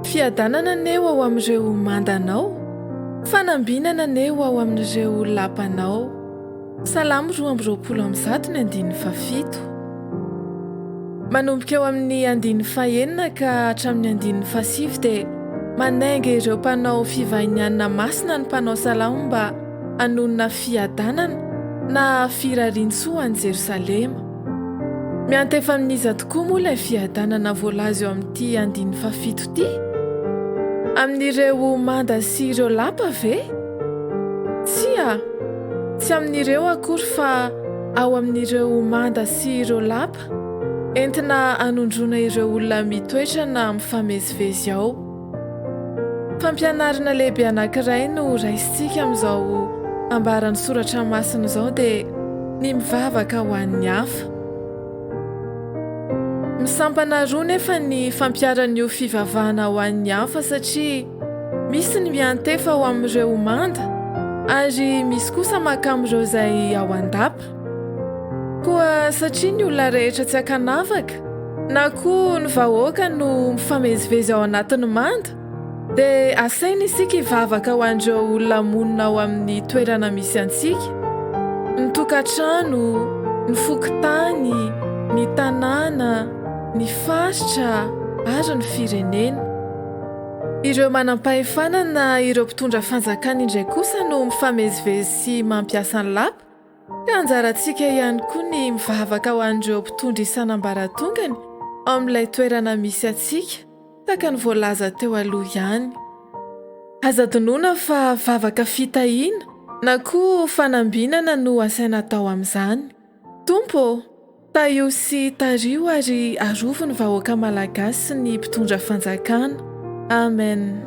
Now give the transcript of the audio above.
Fiadanana anie ho ao amin'ireo manda anao, fanambinana anie ho ao amin'ireo lapa anao. Salamo roa amby roapolo amby zato ny andininy fahafito. Manomboka eo amin'ny andininy fahenina ka hatramin'ny andininy fahasivy dia manainga ireo mpanao fivahinianina masina ny mpanao salamo mba hanonona fiadanana na firarian-tsoa an'i Jerosalema. Miantefa amin'iza tokoa moa ilay fiadanana voalaza eo amin'ity andininy fahafito ity? Amin'ireo manda sy ireo lapa ve? Tsia, tsy amin'ireo akory fa ao amin'ireo manda sy ireo lapa entina hanondroana ireo olona mitoetra na mifamezivezy ao. Fampianarana lehibe anankiray no raisintsika amin'izao ambaran'ny soratra masina izao dia ny mivavaka ho an'ny hafa. Misampana roa nefa ny fampiaran'io fivavahana ho an'ny hafa satria misy ny miantefa ho amin'ireo manda ary misy kosa maka amin'ireo izay ao an-dapa. Koa satria ny olona rehetra tsy ankanavaka, na koa ny vahoaka no mifamezivezy ao anatin'ny manda, dia asaina isika hivavaka ho an'ireo olona monina ao amin'ny toerana misy antsika, ny tokantrano, ny fokontany, ny tanàna, ny faritra ary ny firenena. Ireo manam-pahefana na ireo mpitondra fanjakana indray kosa no mifamezivezy sy mampiasa ny lapa, Ka anjarantsika ihany koa ny mivavaka ho an'ireo mpitondra isan'ambaratongany ao amin'ilay toerana misy antsika, tahaka ny voalaza teo aloha ihany. Aza adinoina fa vavaka fitahiana na koa fanambinana no asaina atao amin'izany. Tompo ô! Tahio sy tariho ary arovy ny vahoaka Malagasy sy ny mpitondra fanjakana. Amen.